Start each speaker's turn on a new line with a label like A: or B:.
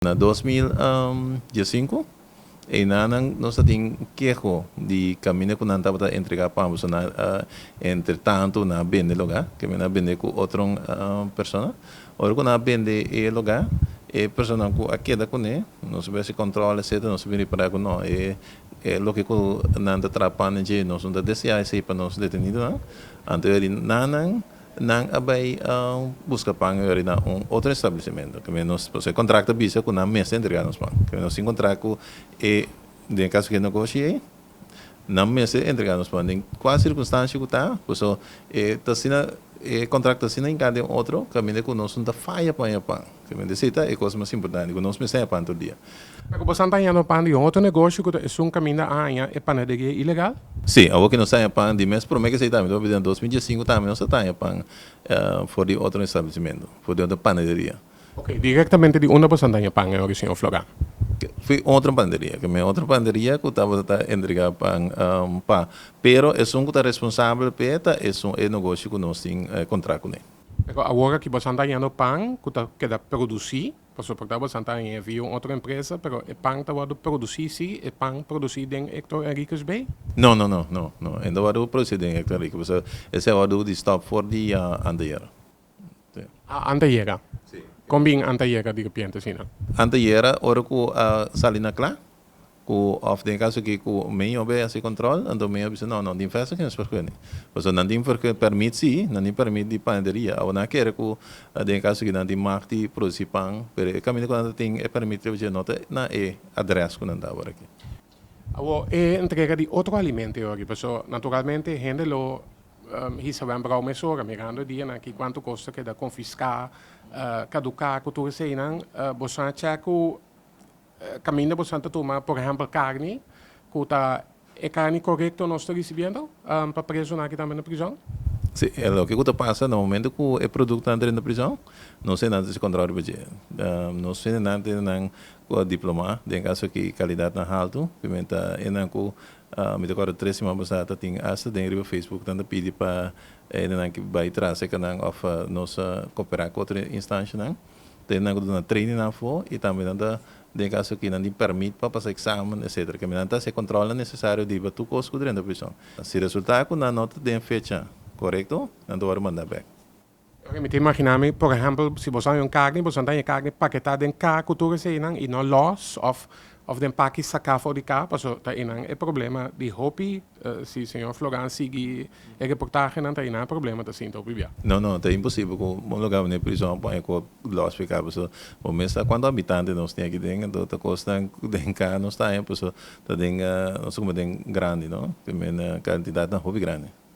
A: Na dos mil diesinku, einanan nos a tin keho di kaminda ku nan tabata entregá pa ambos, so nan a entre tantu nan a bende lugá, kende nan a bende ku otro persona. Ora ku nan a bende e lugá, e personanan ku a keda kuné nos a bese kòntròl etcetera, nos a bin repará ku no e e loke ku nan ta traha pana dje nos no ta deseá esei pa nos detenidonan, anto e nan Nan a bai buska pan yori na un otro establecimento, ke men nos, pasobra e contract a bisa ku nan mes ta entrega nos pan, ke men nos tin kontrakt ku e, den e kaso ku e negoshi ei, nan mes ta entrega nos pan den kua sirkunstanshi ku ta, paso e ta asina, e kontrakt ta asina hinká den otro kaminda ku nos no ta faya pa hoña pan. Simplemente esei ta e kos mas importante ku nos mester haña tur dia. Ta ku boso a ta haña
B: no pan di un otro negoshi ku ta esun kaminda a haña e panaderia ilegal? Sí, awor ku nos ta haña
A: pan di mes promé ku esei tambe ta papia den dos mil dies i sinku tambe nos a ta haña pan for di otro establecimentu, for di otro panaderia. Oke, direktamente
B: di unda boso a ta haña pan e ora, señor Florán? Fu otro
A: panaderia, kemey otro panaderia ku tabata ta entregá pan pa, pero esun ku ta responsabel p'e ta esun e negoshi ku nos tin kontrá kuné. Pero awor aki boso
B: a ta hañando pan cu ta keda produci, pasobra por ta boso a ta haña e via un otro empresa, pero e pan ta wordo produci si, e pan produci den Hector Henriquez bay? No, no, no, no,
A: no, e no wordo produci den Hector Henriquez, pasobra esey a wordo di stop for dia anteayer. A
B: anteayera? Si. Con bin anteayera di repiente asina? Anteayera ora
A: cu a sali na cla, Ku òf den kaso ki ku mi yo be hasi kòntròl, anto mi a bisa, no, no, di festa ke nos por kuni. Pasobra nan tin por pèrmit si, nan tin pèrmit di panaderia. Awo nan a kere ku den kaso ki nan tin magt di produsi pan, pero e kaminda ku nan ta tin e pèrmit riba dje no ta na e adrès ku nan ta awor aki. Awo e
B: entrega di otro alimento e ora riba. So, naturalmente hende lo hisa wèn brou mesora mirando e dianan aki kuantu kos ta keda konfiská, kaduká ku tur eseinan. Bo sa chèk ku Kaminda bo san ta tuma por ehempel karni ku ta e karni korekto nos ta risibiendo pa presonan aki tambe na prizòn? Si, e loke
A: ku ta pasa na momentu ku e produkto antre na prizòn, nos tendenan ta hasi kontrol riba dje. Nos tendenan tene nan diplomá den kaso ki kalidatnan haltu, ku men ta enan ku mi ta kòrda tres siman pasá ta tin asta den riba Facebook nan ta pidi pa enan ki bai tras e kanan òf nos koperá ku otro instanshanan. den nan ku duna training afo i tambe nan ta den kaso ki nan di permit pa pasa examen etcetera kende nan ta haci e controlnan necesario riba tur cos ku drenta prison si resulta ku nan no ta den fecha correcto nan ta wòrdu manda back. Oke mi ta
B: imagina mi por ehempel si bo sa haña un carni bo sa ta haña carni paketá den ka ku tur esei nan i no los of of den paki saká for di ka paso ta einan e problema di hopi Si señor Floran sigui e reportahenan ta hina problema ta sinta o bibiá. No no ta imposibel
A: ku bo lo gaba na e prizòn pon e kòp lòs p'e ka paso bo mes sa kuantu habitante nos tin aki den anto ta kosnan den ka nos ta haña paso ta den nos ta kuma den grandi no ta mena kantidadnan hopi grandi.